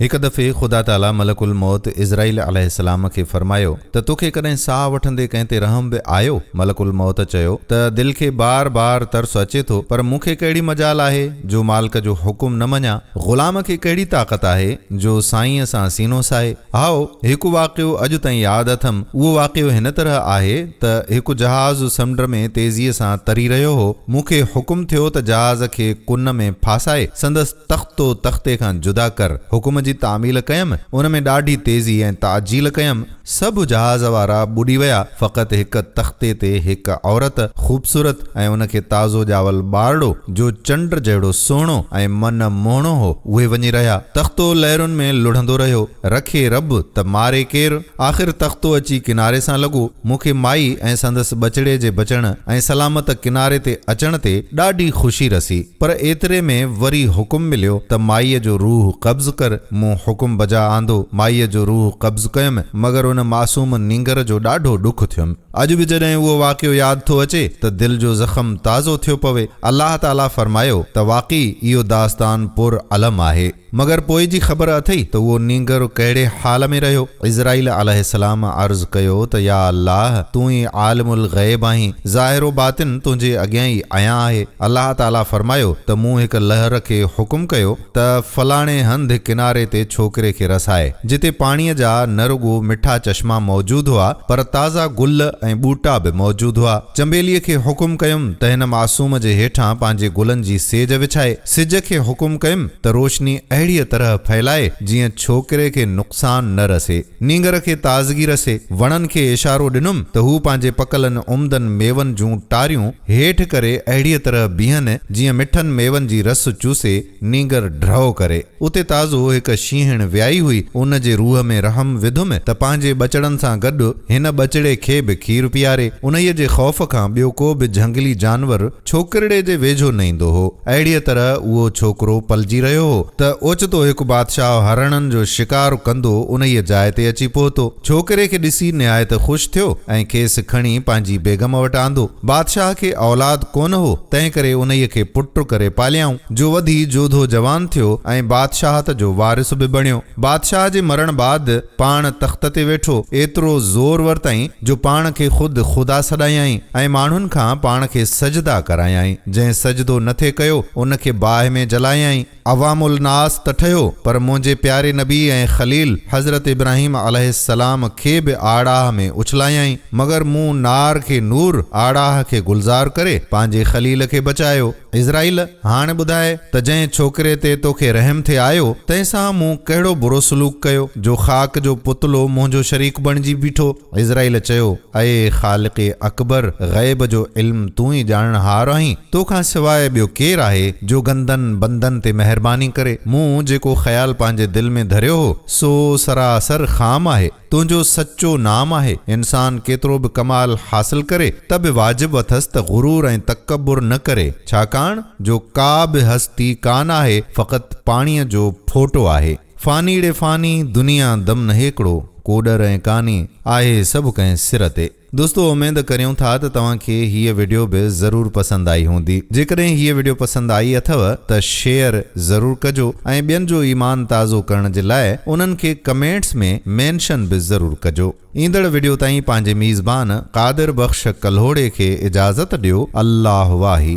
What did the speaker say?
هڪ دفعي خدا تعاليٰ ملڪ الموت عزرائيل عليه السلام کي فرمايو ته توکي ڪڏهن ساهه وٺندي ڪنهن تي رحم به آيو؟ ملڪ الموت چيو ته دل کي بار بار ترس اچي ٿو پر مون کي ڪهڙي مجال آهي جو مالڪ جو حڪم نه مڃان؟ غلام کي ڪهڙي طاقت آهي جو سائينء سان سينو ساهي؟ هائو، هڪ واقعو اڄ تائين ياد اٿم، اهو واقعو هن طرح آهي ته هڪ جهاز سمنڊ ۾ تيزيء سان تري رهيو هو، مون کي حڪم ٿيو ته جهاز کي ڪن ۾ ڦاسائي سندس. تختو تختي کان جدا ڪر، حڪم جي تعميل ڪيم، ان ۾ ڏاڍي تيزي ۽ تعجيل ڪيم، سڀ جهاز وارا ٻڏي ويا، فقط هڪ تختي تي هڪ عورت، خوبصورت ۽ ان کي تازو ڄاول ٻارڙو، جو چنڊ جهڙو سهڻو ۽ من موهڻو هو، اهي وڃي رهيا، تختو لهرن ۾ لڙهندو رهيو، رکي رب ته ماري ڪير؟ آخر تختو اچي ڪناري سان لڳو. مون کي مائي ۽ سندس ٻچڙي جي بچڻ ۽ سلامت ڪناري تي اچڻ تي ڏاڍي خوشي رسي. پر ايتري ۾ وري حڪم مليو ته مائيء جو روح قبض ڪر. مون حڪم بجا آندو. مائيء جو روح قبض ڪيم، مگر ان معصوم نينگر جو ڏاڍو ڏک ٿيم. اڄ به جڏهن اهو واقعو ياد ٿو اچي ته دل جو زخم تازو ٿيو پوي. الله تعاليٰ فرمايو ته واقعي اهو داستان پر الم آهي. مگر پوء جي خبر اٿئي ته اهو نينگر ڪهڙي حال ۾ رهيو؟ عزرائيل عليه السلام عرض ڪيو ته يا الله! تون ئي عالم الغيب آهين، ظاهر و باطن تنهنجي اڳيان ئي عيان آهي. الله تعاليٰ فرمايو ته مون هڪ لهر کي حڪم ڪيو ته فلاڻي هنڌ ڪناري تي ڇوڪري کي رسائي، جتي پاڻيء جا نه رڳو مٺا چشما موجود هئا، پر تازا گل ۽ ٻوٽا به موجود هئا. چنبيليء کي حڪم ڪيم ته هن معصوم جي هيٺان پنهنجي گلن جي سيج وڇائي. سج کي حڪم ڪيم ته روشني اهڙيء طرح ڦهلائي جيئن ڇوڪري کي نقصان نه رسي. نينگر کي تازگي رسي. وڻن کي اشارو ڏنم ته هو پنهنجي پڪلن عمدن ميون جون ٽاريون هيٺ ڪري اهڙيء طرح بيهن جيئن مٺن ميون جي رس چوسي نينگر ڍؤ ڪري. اتي تازو هڪ شينهڻ ويائي هئي، ان جي روح ۾ رحم وڌم ته پنهنجي ٻچڙن سان گڏ هن ٻچڙي کي به کير پياري. انهيء جي خوف کان ٻيو ڪو به جهنگلي جانور، ڇوڪرڙي جي ويجهو نه ايندو هو. اهڙيء طرح اهو ڇوڪرو پلجي رهيو هو ته اوچتو هڪ بادشاهه هرڻن جو شڪار ڪندو انهيء جاء تي اچي پهتو. ڇوڪري کي ڏسي نهايت خوش ٿيو ۽ کيس کڻي پنهنجي بيگم وٽ آندو. بادشاهه کي اولاد ڪونه هو، تنهنڪري انهيء کي پٽ ڪري پاليائون، جو وڌي جوڌو جوان ٿيو ۽ بادشاهت جو وارث به بڻيو. بادشاهه جي مرڻ بعد. پاڻ تخت تي ويٺو، ايترو زور ورتائين، جو پاڻ کي خود خدا سڏايائين، ۽ ماڻهن کان پاڻ کي سجدا ڪرايائين، جنهن سجدو نه ٿي ڪيو، ان کي باهه ۾ جلايائين. عوام الناس ته ٺهيو، پر منهنجي پياري نبي ۽ خليل حضرت ابراهيم عليه السلام کي به آڙاهه ۾ اڇلايائين، مگر مون نار کي نور، آڙاهه کي گلزار ڪري، پنهنجي خليل کي بچايو. عزرائيل، هاڻ ٻڌاء ته جنهن ڇوڪري تي توکي رحم ٿي آيو، تنهن سان مون ڪهڙو برو سلوڪ ڪيو، جو خاڪ جو پتلو منهنجو شريڪ بڻجي بيٺو؟ عزرائيل چيو، اي خالق اڪبر! غيب جو علم تون ئي ڄاڻڻهار آهين، تو کان سواء ٻيو ڪير آهي، جو گندن بندن تي مهرباني ڪري؟ مون جيڪو خيال پنهنجي دل ۾ ڌريو هو، سو سراسر خام آهي. تنهنجو سچو نام آهي. انسان ڪيترو به ڪمال حاصل ڪري ته به واجب اٿس ته غرور ۽ تڪبر نه ڪري، ڇاڪاڻ جو ڪا به هستي ڪا نه آهي فقط پاڻيء جو ڦوٽو آهي. فانيڙي فاني، دنيا دم نهيڪڙو، ڪوڏر ۽ ڪاني، آهي سڀ ڪنهن سر تي. دوستو اميد ڪريون ٿا ته توهان کي هيء وڊيو به ضرور پسند آئي هوندي جيڪڏهن هيء وڊيو پسند آئي اٿو ته شيئر ضرور ڪجو ۽ ٻين جو ايمان تازو ڪرڻ جي لاء انهن کي ڪمينٽس ۾ مينشن به ضرور ڪجو ايندڙ وڊيو تائين پنهنجي ميزبان قادر بخش ڪلهوڙي کي اجازت ڏيو الله واهي.